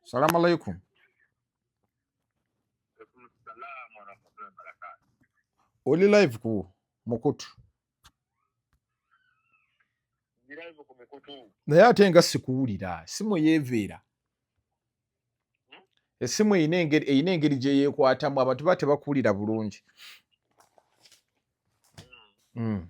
Salamu alaikum. Oli live ku mukutu naye ate nga sikuwulira simu yeeveera hmm? esimu erina engeri gye yeekwatamu abantu ba tebakuwulira bulungi hmm. Hmm.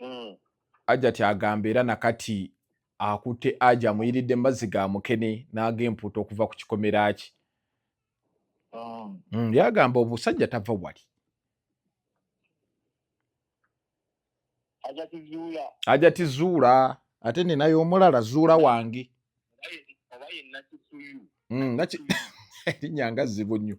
mm. ajati agamba era nakati akutte aja amuyiridde mazzi ga mukene naaga empuuta okuva ku kikomera ki mm. mm, yagamba obusajja tava wali aja tizuula ate ninayo omulala zuula wange mm, linyanga zibu nnyo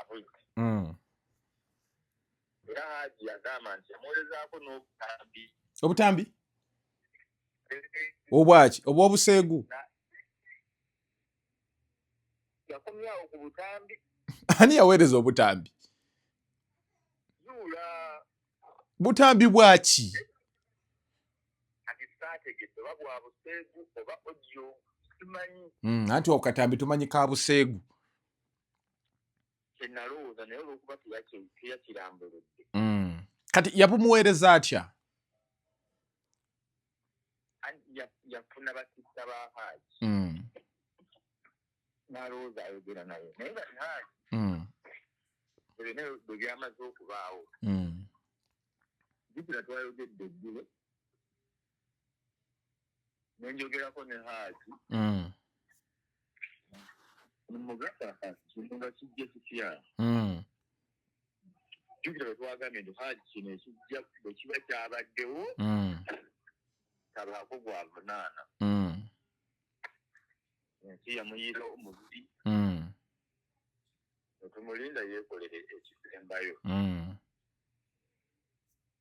abwit mm. era haji yagamba nti yamuwerezaako n'obutambi obutambi obwaki obwobuseegu yakomyawo ku butambi ani yaweereza obutambi butambi bwaki hmm, anti okatambi tumanyi ka buseegu kyenalowooza naye olwokuba teyakirambuludde mm. kati yabumuweereza atya yafuna bakisa ba haaji mm. nalowooza ayogera naye naye bali haaji mm. ebina bwe byamaze okubaawo jukira twayogedde eggulo nenjogerako ne haaji mm. mugamba kintu nga kijja kitya mm. jukira wetwagambye nti haaji kino ekijja bwe kiba kyabaddewo mm. tabaako gwavunaana ensi yamuyiira omubiri netumulinda yekolere ekisembayo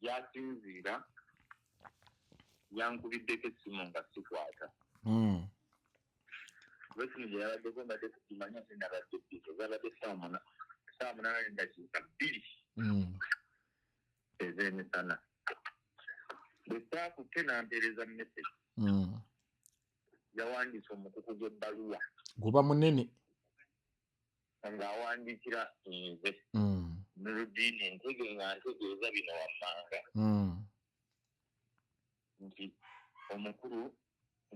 gyasinziira yankubiddeko essimu nga sikwata hmm. kuba essimu gye yabaddeko mbadde kukimanya se nabadde bizo zabadde saamuna saamunana nedakiika bbiri hmm. ez'emisana bwe saakutte nampeereza mu mesegi hmm. yawandiisa omukuku gw'ebbaluwa guba munene nga awandiikira nze mm. nuludiini ntege nga ntegeeza bino wammanga mm. nti omukulu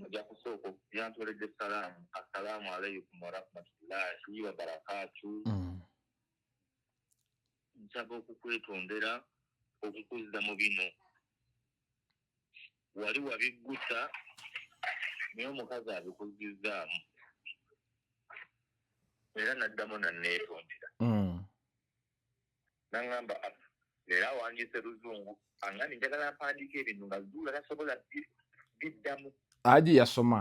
nja kusooka yantooledde salaamu assalaamu alaikum warahmatullahi wabarakaatu mm. nsaba okukwetondera okukuzza mu bino wali wabiggusa naye omukazi abikuzzizzaamu era naddamu nanneetondera mm. naŋamba ah, leero awandiise luzungu angani njagala mpandiika ebintu nga zuula tasobola biddamu aji yasoma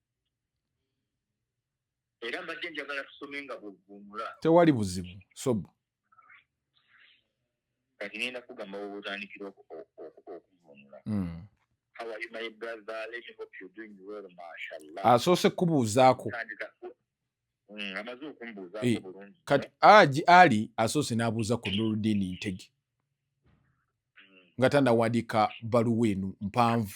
era mbadde njagala tusome nga bwovvuunula tewali buzibu sobu kati ngenda kugamba wobutandikira okuvvuunula hmm. asoose kubuuzaako hmm, amaze okumbuuzaako eh, bulungi kati aji ali asoose n'abuuza ku nuludiini ntege hmm. nga tanawandiika baluwa eno mpanvu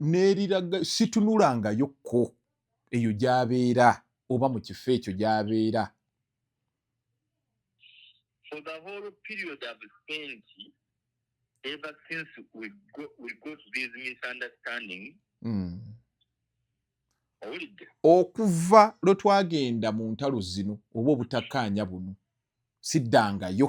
n'eriraga situnulangayo kko eyo gy'abeera oba mu kifo ekyo gy'abeera for the whole period of spent ever since we go, we go to these misunderstanding mm. okuva lwe twagenda mu ntalo zino oba obutakkaanya buno siddangayo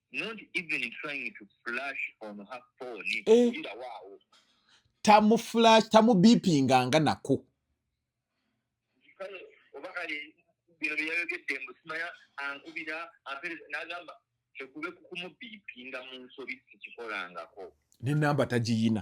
eh. tamuflash tamubipinga nga nako bino byeyayogedde mbu simanya ankubira ampereza nagamba kyekube kukumubipinga mu nsobi sikikolangako nenamba tagiyina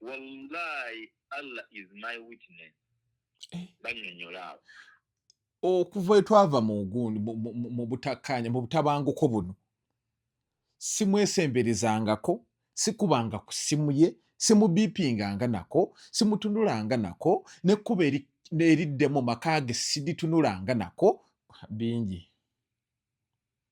wallahi allah is my witness eh. banyonyola abo okuva etwava mu gundi mu butakkaanya mu butabanguko buno simwesemberezangako sikubanga ku simu ye simubipinganga nako simutunulanga nako nekkuba eriddemu maka ge siditunulanga nako bingi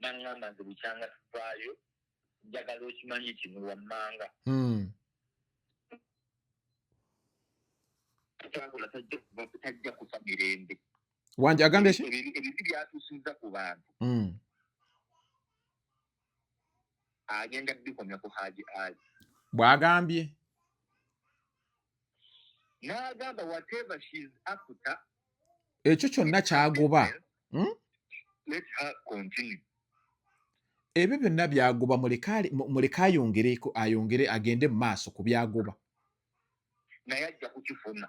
nangamba nze bukyanga tuvaayo njagala okimanyi kino wammanga hmm. kyagula tajja kuva tajja kufa mirembe wanje agambye ki ebibi byatusinza ku bantu mm. agenda bikomya ku haji ali bwagambye nagamba whatever she is after ekyo kyonna kyagoba hmm? let her continue ebyo byonna byagoba muleka ayongereko ayongere agende mu maaso ku byagoba naye ajja kukifuna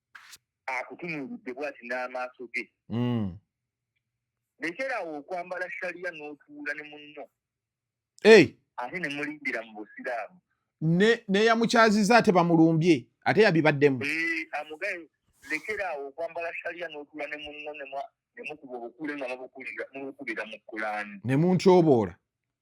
akutunuulidde bwati n'amaaso ge mm. lekeraawo okwambala shaliya n'otuula ne munno ate ne mulimbira mu busiraamu neyamukyaziza ate bamulumbye ate yabibaddemu amugaye lekeraawo okwambala shaliya n'otuula ne munno nemukuba obukule nga mubukubira mu kulaani ne muntyoboola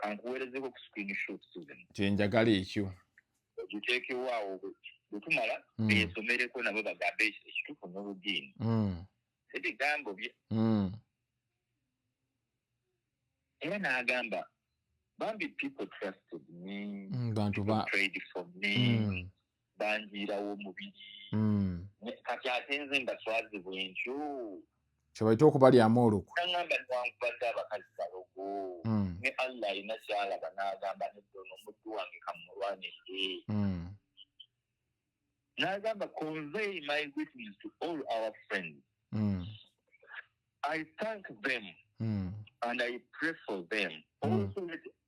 kankuweerezeko ku screen shot susan kyenjagala ekyo giteekewo awo bwetumala hmm. beesomereko nabo bagambe ekituufu n'oludiini hmm. ebigambo bye hmm. era n'agamba bambi people trusted me bantu ba banjiirawo omubiri hmm. kati ate nze mbaswaze bwentyo kyebaita okubalyamu olukwe agamba niwankubadde abakazi balogo hmm. ne allah alina kyalaba n'agamba nedda ono omuddu wange kamulwanidde hmm. n'agamba convey my witness to all our friends i thank them and i pray for them also let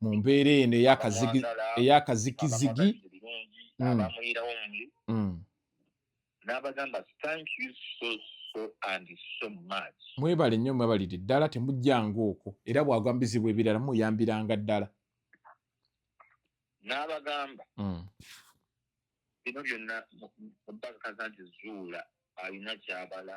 mu mbeera eno eyakazikizigi abamuyirawo omuli n'abagamba thank you so so and so much mwebale nnyo mwebalire ddala temujjanga okwo era bwagwa mu bizibu ebirala muyambiranga ddala n'abagamba mm. bino byonna mubakakaza nti zuula alina kyabala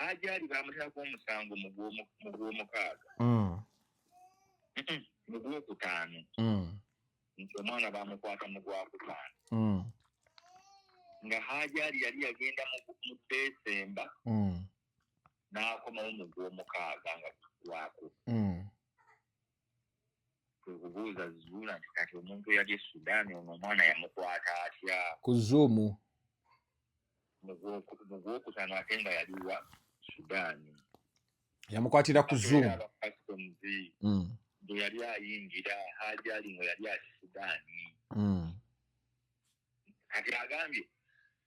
Hajari baamuteerako omusango mu gw'omukaaga mm. mu gwokutaano mm. nti omwana baamukwata mu gwakutaano mm. nga Hajari yali yagenda mu Desemba n'akomawo mu gw'omukaaga nga gwako kwekubuuza zuula nti kati omuntu eyali e sudan ono omwana yamukwata atya ku zuumu mugwokutano ate nga yaliwa sudan yamukwatira ku zuumu mm. gye yali ayingira haji ali nga yali ati sudan mm. kati agambye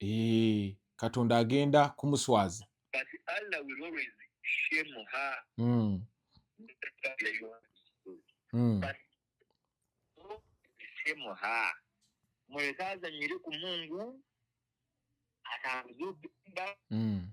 Eh, katonda agenda kumuswaza hmm. Hmm. muleke azanyire ku mungu atambuze obugenda hmm.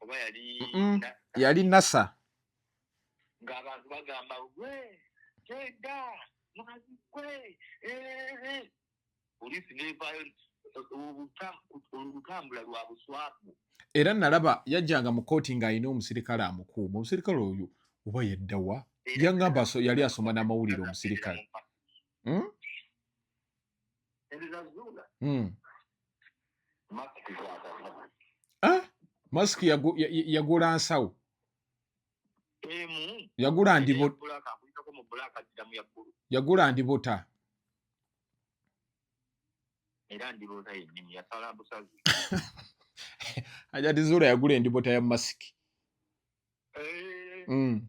oba yali yali nasa ng'abantu bagamba gwe kyeda mwazi gwe poliisi nevayo olutambula lwa buswavu era nalaba yajjanga mu kooti ng'alina omusirikale amukuuma omusirikale oyo oba yeddawa yangamba yali asoma n'amawulire omusirikale hmm? Hmm. Ah, masiki yagula nsawo yagula yagula ndibuta ajati zula yagula endibuta ya masiki eh. hmm.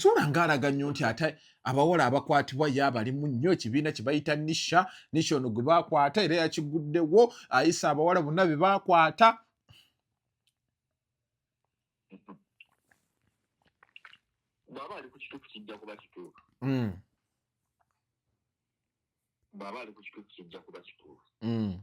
zuula ng'alaga nnyo nti ate abawala abakwatibwa ye abalimu nnyo ekibiina kye bayita nisha nisha ono gwe baakwata era yakiguddewo ayisa abawala bonna be baakwata bwaba ali ku kituufu kijja kuba kituufu hmm. bwaba ali ku kituufu kijja kuba kituufu hmm.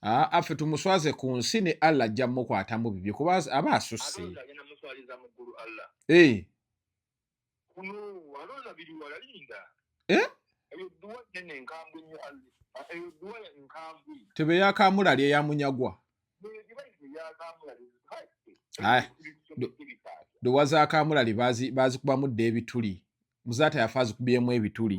affe ah, ah, tumuswaze ku nsi ne allah ajja mukwatamu bibye kuba aba asusse eh. eh? tebe yakamulali eyamunyagwa dowa zakamulali bazikubamu dda ebituli muzaata yafa azikubyemu ebituli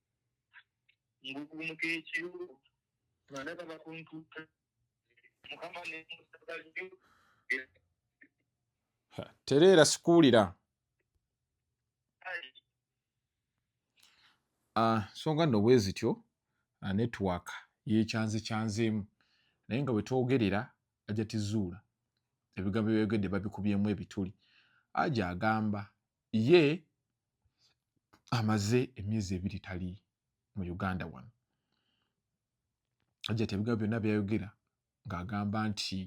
ngugumuka ekiru banaba bakuntuka mukama nemusagalyo tereera sikuwulira ah, songa nno bwe zityo ah, network yekyanze kyanzeemu naye nga bwe twogerera ajja tizuula ebigambo byeyogedde babikubyemu ebituli aja agamba ye amaze emyezi ebiri tali mu uganda wano ajja tebigambo byonna byayogera ng'agamba nti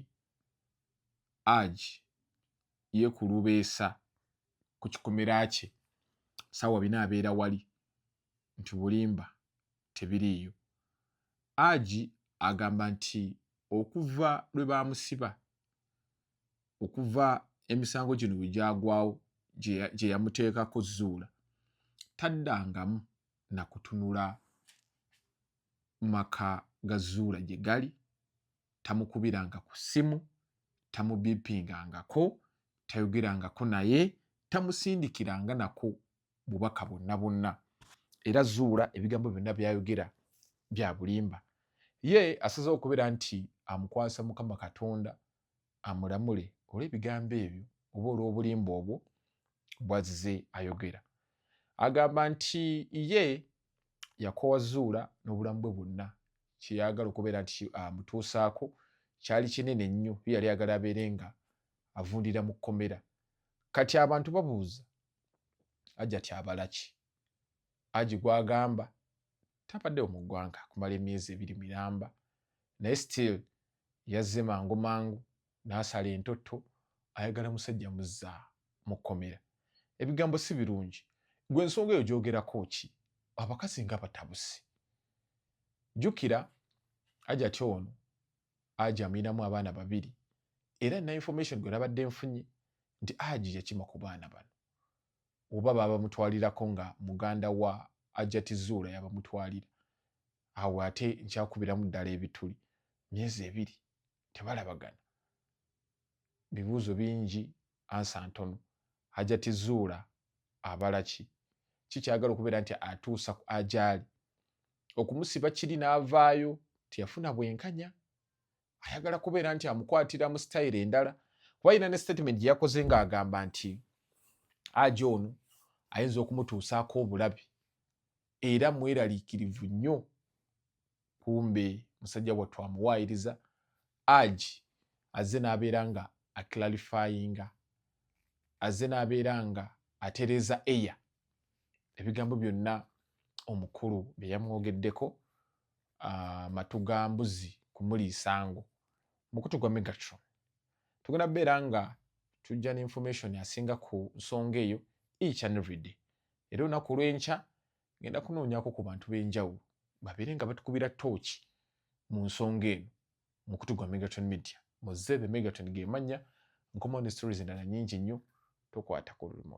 aj yekulubeesa ku kikomera kye saawa bina abeera wali nti bulimba tebiriiyo agi agamba nti okuva lwe baamusiba okuva emisango gino bwe gyagwawo gye yamuteekako zuula taddangamu na kutunula maka ga zuula gye gali tamukubiranga ku ssimu tamubipingangako tayogerangako naye tamusindikiranga nako bubaka bwonna bwonna era zuula ebigambo byonna byayogera bya bulimba ye asazewo okubeera nti amukwasa mukama katonda amulamule olw'ebigambo ebyo oba olw'obulimba obwo bwazze ayogera agamba nti ye yakowa zuula n'obulamu bwe bwonna kyeyagala okubeera nti amutuusaako uh, kyali kinene nnyo ye yali agala abeere nga avundira mu kkomera kati abantu babuuza ajati abalaki aji gwagamba tabadde mu ggwanga kumala emyezi ebiri miramba naye still yazze mangu mangu n'asala entotto ayagala musajja muzza mu kkomera ebigambo si birungi gwe ensonga eyo gyogerako ki abakazi nga batabusi jjukira ajati ono aji amuyinamu abaana babiri era na information gwe nabadde nfunye nti aji yakima ku baana bano oba babamutwalirako nga muganda wa ajati zuula yabamutwalira awo ate nkyakubiramu ddala ebituli myezi ebiri tebalabagana bibuuzo bingi ansa ntono ajati zuula abalaki kikyagala okubeera nti atuusa ku ajaali okumusiba kiri n'avaayo tiyafuna bwenkanya ayagala kubeera nti amukwatira mu sitayiro endala kuba yina ne statement gye yakoze ng'agamba nti aja ono ayinza okumutuusaako obulabi era mweraliikirivu nnyo kumbe musajja wattu amuwaayiriza aji azze n'abeera nga aclarifyinga azze n'abeera nga atereeza eya ebigambo byonna omukulu bye yamwogeddeko ah, matu ga mbuzi kumuliisango mukutu gwa megatron tugenda kubeera nga tujja ne information asinga ku nsonga eyo each and every day era olunaku olwenkya ngenda kunoonyako ku bantu b'enjawulo babeere nga batukubira tooki mu nsonga eno mukutu gwa megatron media muzeebe megatron gemannya nkomawo ne stories endala nyingi nnyo tokwata ku remote